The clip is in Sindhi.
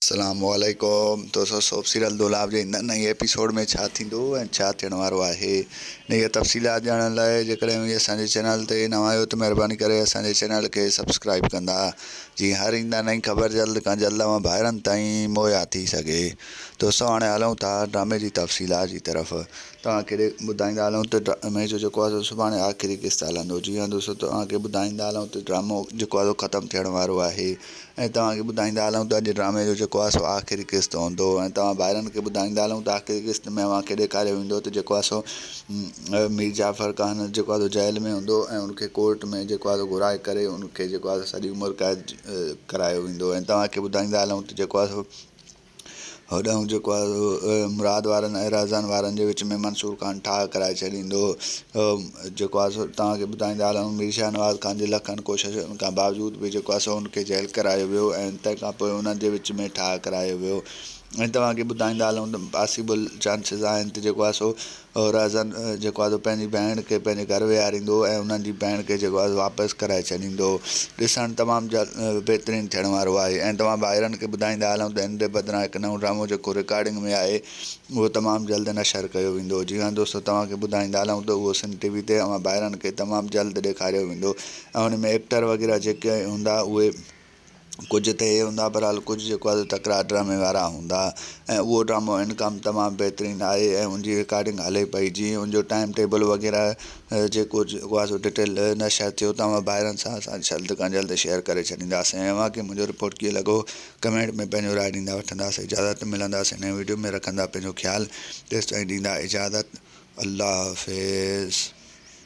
اسلام عليڪم دوستو سوڀ سيريل دولاب جي هن نئين ايپيسوڊ ۾ ڇا ٿيندو ۽ ڇا ٿيڻ وارو آهي انهي جا تفصيلات ڄاڻڻ لاء جيڪڏهن اوهين اسان جي چينل تي نوان آهيو ته مهرباني ڪري اسان جي چينل کي سبسڪرائيب ڪندا جيئن هر ايندا نئين خبر جلد کان جلد اوهان ڀائرن تائين مهيا ٿي سگهي دوستو هاڻي هلون ٿا ڊرامي جي تفصيلات جي طرف توهان کي ٻڌائيندا هلون ته ڊرامي جو جيڪو آهي سڀاڻي آخري قسط هلندو جي ها دوستو توهان کي ٻڌائيندا هلون ته ڊرامو جيڪو آهي ختم ٿيڻ وارو آهي ۽ توهان کي ٻڌائيندا هلون ته اڄ ڊرامي جو جيڪو آهي سو آخري قسط هوندو ۽ توهان ڀائرن کي ٻڌائيندا هلون ته آخري قسط ۾ اوهان کي ڏيکاريو ويندو ته جيڪو آهي سو مير جعفر خان جيڪو آهي سو جيل ۾ هوندو ۽ ان کي ڪورٽ ۾ جيڪو آهي سو گهرائي ڪري ان کي جيڪو آهي سو سڄي عمر قيد ڪرايو ويندو ۽ توهان کي ٻڌائيندا هلون ته جيڪو آهي سو هوڏانهن جيڪو آهي سو مراد وارن ۽ رهزان وارن جي وچ ۾ منصور خان ٺاهه ڪرائي ڇڏيندو هو جيڪو آهي سو توهان کي ٻڌائيندا هلون مير شاهنواز خان جي لکن ڪوششن کان باوجود به جيڪو آهي سو هن کي جيل ڪرايو ويو ۽ تنهن کان پوء انهن جي وچ ۾ ٺاهه ڪرايو ويو ۽ توهان کي ٻڌائيندا هلون ته پاسيبل چانسز آهن ته جيڪو آهي سو هورائزن جيڪو آهي سو پنهنجي ڀيڻ کي پنهنجي گهر ويهاريندو ۽ انهن جي ڀيڻ کي جيڪو آهي سو واپس ڪرائي ڇڏيندو. ڏسڻ تمام جلد بهترين ٿيڻ وارو آهي ۽ توهان ڀائرن کي ٻڌائيندا هلون ته هن جي بدران هڪ نئون ڊرامو جيڪو رڪارڊنگ ۾ آهي اهو تمام جلد نشر ڪيو ويندو. جي هان دوستو توهان کي ٻڌائيندا هلون ته اهو سنڌ ٽي وي تي اوهان ڀائرن کي تمام جلد ڏيکاريو ويندو ۽ ان ۾ ايڪٽر وغيره جيڪي هوندا اهي ڪجهه ته هي هوندا بهرحال ڪجهه جيڪو آهي سو تڪرار ڊرامي وارا هوندا ۽ اهو ڊرامو انڪام تمام بهترين آهي ۽ ان جي رڪارڊنگ هلي پئي جيئن ان جو ٽائيم ٽيبل وغيره جيڪو جيڪو آهي سو ڊٽيل نشر ٿيو تمام ڀائرن سان اسان جلد کان جلد شيئر ڪري ڇڏينداسين ۽ اوهان کي منهنجو رپورٽ ڪيئن لڳو ڪمينٽ ۾ پنهنجو راء ڏيندا وٺنداسين اجازت ملنداسين نئين وڊيو ۾ رکندا پنهنجو خيال تيستائين ڏيندا اجازت الله حافظ